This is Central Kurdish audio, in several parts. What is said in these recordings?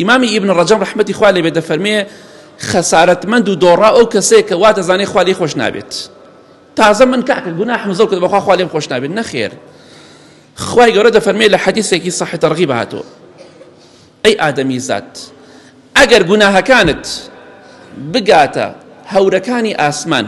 ئیمامی ئیبن ڕەجەب ڕەحمەتی خوا لێ بێ دەفەرمێ خەسارەتمەند و دۆڕا ئەو کەسەیە کە وا دەزانێ خوا لێ خۆش نابێت تازە من کاکە گوناحم زۆر کرد بەخوا خوا لێم خۆش نابێت نەخێر خوای گەورە دەفەرمێ لە حەدیثێکی صحی تەرغیب هاتووە ئەی ئادەمی زات ئەگەر گوناهەکانت بگاتە هەورەکانی ئاسمان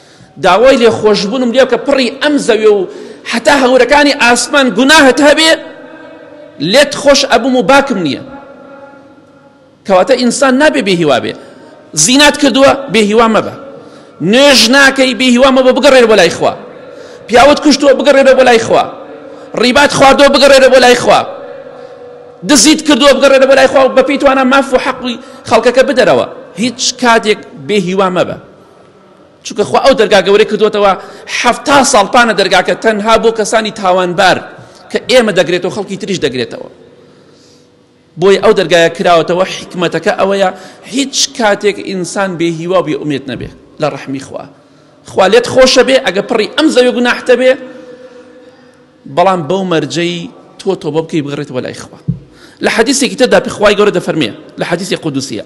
داوای لێخۆشبوونم لێ بکە پڕی ئەم زەوێ و حەتا هەورەکانی ئاسمان گوناهت هەبێ لێت خۆش ئەبووم و باکم نییە کەواتە ئینسان نابێ بێ هیوا بێ زینات کردووە بێ هیوا مەبە نوێژ ناکەی بێ هیوا مەبە بگەڕێرە بۆ لای خوا پیاوت کوشتووە بگەڕێرە بۆ لای خوا ڕیبات خواردۆ بگەڕێرە بۆ لای خوا دزیت کردووە بگەڕێرە بۆ لای خوا بە پێی توانە ماف و حەقی خەڵکەکە بدەرەوە هیچ کاتێک بێ هیوا مەبە چونکە خوا ئەو دەرگا گەورەی کردووەتەوە حەفتا ساڵ پانە دەرگاکە تەنها بۆ کەسانی تاوانبار کە ئێمە دەگرێتەوە خەڵکی تریش دەگرێتەوە بۆی ئەو دەرگایە کراوەتەوە حکمەتەکە ئەوەیە هیچ کاتێک ئینسان بێ هیوا بێ ئومێت نەبێ لە ڕەحمی خوا خوا لێت خۆشە بێ ئەگە پڕی ئەم زەوی گوناحتە بێ بەڵام بەو مەرجەی تۆ تۆبە بکەی بگەڕێتەوە لای خوا لە حەدیسێکی تردا پخوای گەورە دەفەرمێ لە حەدیسی قودوسیە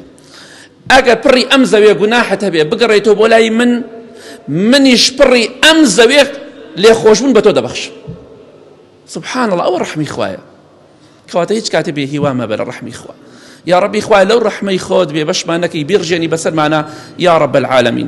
ئەگەر پڕی ئەم زەوێ گوناحت هەبێ بگەڕێتەوە بۆ لای من منیش پڕی ئەم زەوێ لێ خۆشبوون بە تۆ دەبەخش سبحان الله ئەوە ڕحمی خوایە کەواتە هیچ کاتێ بێ هیوا مەبە لە ڕحمی خوا یا ڕبی خوای لەو ڕحمەی خۆت بێ بەشمانەکەی بیرژێنی بەسەرمانە یا ڕب العالمین